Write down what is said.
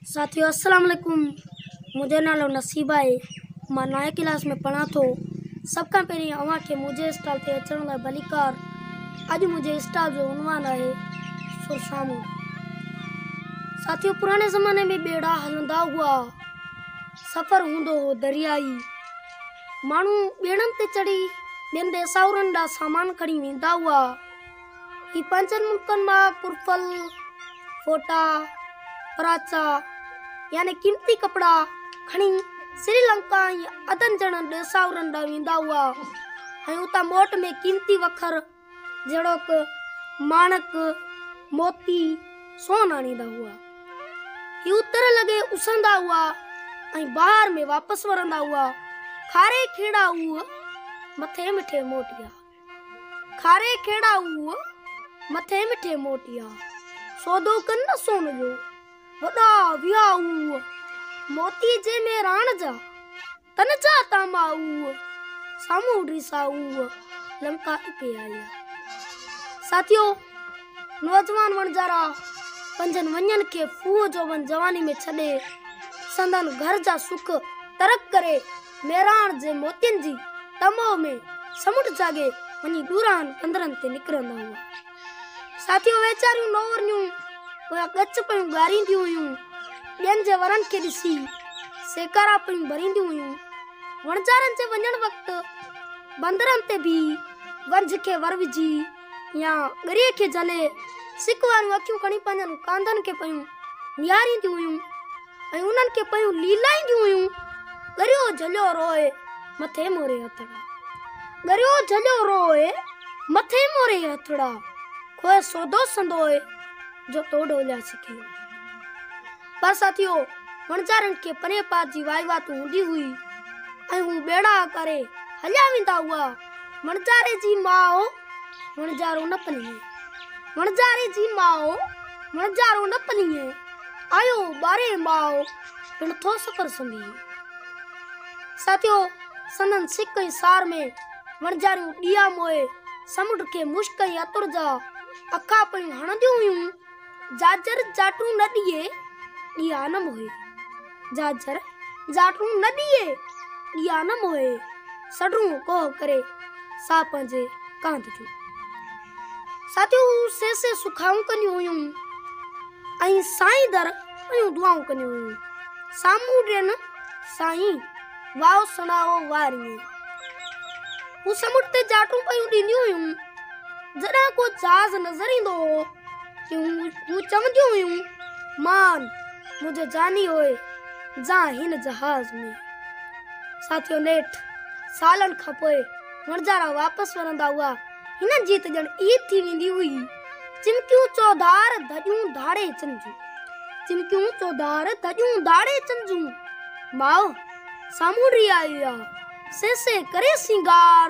ساٿيو السلام عليڪم منهنجو نالو نصيب آهي مان نائين ڪلاس ۾ پڙهان ٿو سڀ کان پهرين اوهان کي منهنجي اسٽال تي اچڻ لاء ڀليڪار اڄ منهنجي اسٽال جو عنوان آهي سرسامو ساٿيو پراڻي زماني ۾ ٻيڙا هلندا هئا سفر هوندو هو دريائي ماڻهو ٻيڙن تي چڙهي ٻين ديساورن ڏانهن سامان کڻي ويندا هئا هي پنجن ملڪن مان پرفل، فوٽا، پراچا يعني قيمتي ڪپڙا کڻي سري لنڪا ۽ عدن جهڙن ڏيساورن ڏانهن ويندا هئا ۽ اتان موٽ ۾ قيمتي وکر جهڙوڪ ماڻڪ، موتي، سون آڻيندا هئا. هي اتر لڳي اسهندا هئا ۽ بهار ۾ واپس ورندا هئا، کاري کيڙا اوهه، مٿي مٺي موٽيا. کاري کيڙا اوء، مٿي مٺي موٽيا. سودو ڪن نه سون جو، وڏا ويا اوء. موتي جي ۾ راڻ جا، تن جا تاما اوء. سامهون ڊيسا اوء، لنڪا اتي آيا. ساٿيو! نوجوان وڻجارا پنهنجن وڃن کي ڦوهه جوڀن جواني ۾ ڇڏي، سندن گهر جا سک ترڪ ڪري، ميراڻ جي موتين جي ٽموء ۾ سمنڊ جاڳي وڃي ڏورانهن پنڌرن تي نڪرندا هئا. ساٿيون ويچاريون نورنيون پويان ڳچ پيون ڳارينديون هيون، ٻين جي ورن کي ڏسي سيڪارا پيون ڀرينديون هيون. وڻجارن جي وڃڻ وقت بندرن تي بيهي ونجهه کي ور وجهي يا ڳريء کي جهلي سڪ واريون اکيون کڻي پنهنجن ڪانڌن کي پيون نهارينديون هيون. ۽ انهن کي پيون ليلائينديون هيون ڳريو جھليو روئي مٿي موري هٿڙا ڳريو جھليو روئي مٿي موري هٿڙا کوئ سودو سندوئي جو تو ڍوليا سکي پر ساٿيو وڻجارن کي پني پات جي وائي وات هوندي هئي ۽ هو ٻيڙا ڪري هليا ويندا هئا وڻجاري جي ماء وڻجارو نه پنيئي وڻجاري جي ماء وڻجارو نه پنيئي آيو ٻاري ماء پڻ ٿو سفر سمي ساتيو سندن سڪ ۽ سار ۾ وڻجاريون ڏيا موئي سمنڊ کي مشڪ ۽ عطر جا اکا پڻ هڻنديون هيون جاجر جاٽون نه ڏيئي، ڏيا نه موهي. جاجر جاٽون نه ڏيئي، ڏيا نه موهي. سڏرون ڪوهه ڪري، سا پنهنجي ڪانڌ جو. ساٿيون سي سي سکائون ڪنديون هيون ۽ سائين در پيون دعائون ڪنديون هيون. سامهون ڏين سائين، واء سڻائو واريون. هو سمنڊ تي جاٽون پيون ڏينديون هيون. جڏهن ڪو جهاز نظر ايندو هو. هو چونديون هيون، مان منهنجي جاني هوء جا هن جهاز ۾. ساٿيو نيٺ سالن کان پوء وڻجارا واپس ورندا هئا. هنن جي ته ڄڻ عيد ٿي ويندي هئي. چمڪيون چوڌار ڌڄون ڌاڙي چنجون. چمڪيون چوڌار ڌڄون ڌاڙي چنجون. ماء سامونڊي آئي آ، سي سي ڪري سينگار.